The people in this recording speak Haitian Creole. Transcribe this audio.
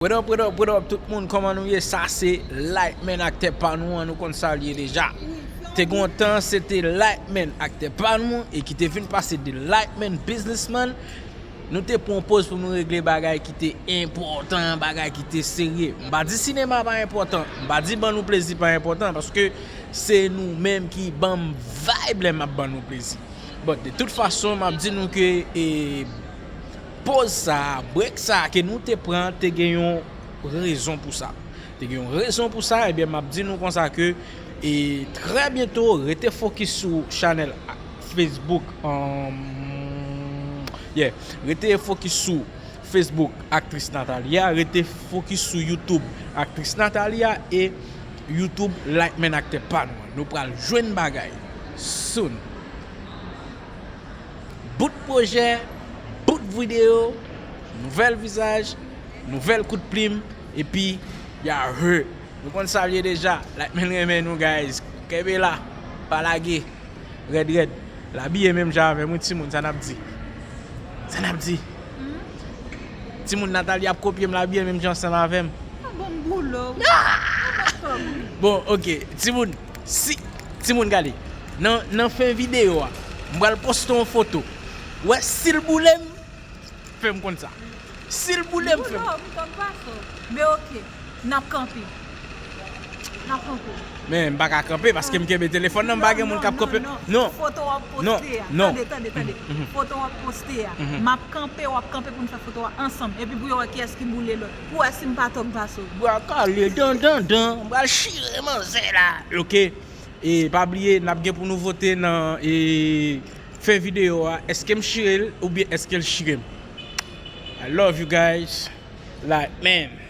What up what up what up tout moun kòman nou ye sa se Lightman aktè pa nou an nou konn sa liye deja te gon tan se te Lightman aktè pa nou e ki te vin pase de Lightman businessman nou te pran poz pou nou regle bagay ki te enpòtan bagay ki te serye m pa di sinema pa enpòtan m pa di ban nou plezi pa enpòtan paske se nou menm ki banm vibe lè map ban nou plezi but de tout fason map di nou ke e. Poz sa a, brek sa a ke nou te pran te gen yon rezon pou sa. Te gen yon rezon pou sa, ebyen map di nou konsa ke e trè byento rete fokis sou chanèl Facebook yeah rete fokis sou Facebook Aktris Nathalie a, rete fokis sou YouTube Aktris Nathalie a e YouTube Lightman Aktè pa nou an. Nou pral jwenn bagay soon. Bout pwojè, bout videyo, nouvèl vizaj, nouvèl kout plim, epi Yahoo! Nou konn sa l ye deja, Lightman renmen nou guys! Kenbe la, pa lage! Rèd rèd! L abiye menm jan avè m wi timoun, sa n ap di? Sa n ap di? Timoun Nathalie ap kopye m, l abiye menm jan san m avè m. Bon, ok, timoun! Si timoun gade nan nan fen video a m pral poste yon foto wè sil boulem fèm konn sa sil boulem fèm Boulom kòm pwason men ok nap kanpe nap kanpe. Men m pa ka kanpe paske m kenbe telefòn nan m pa gen moun kap kanpe non foto wap poste a tande tande tande foto wap poste a map kanpe wap kanpe poun fè foto a ansanm epi pou yo wè kiyès ki boule lòt Pou wè sim pa tòg vaso. Bwa kale dan dan dan m pral chire manzè la ok e pa bliye nap gen pou nou vote nan e fen video a eskem chirel oubyen eskel chirem I love you guys like man.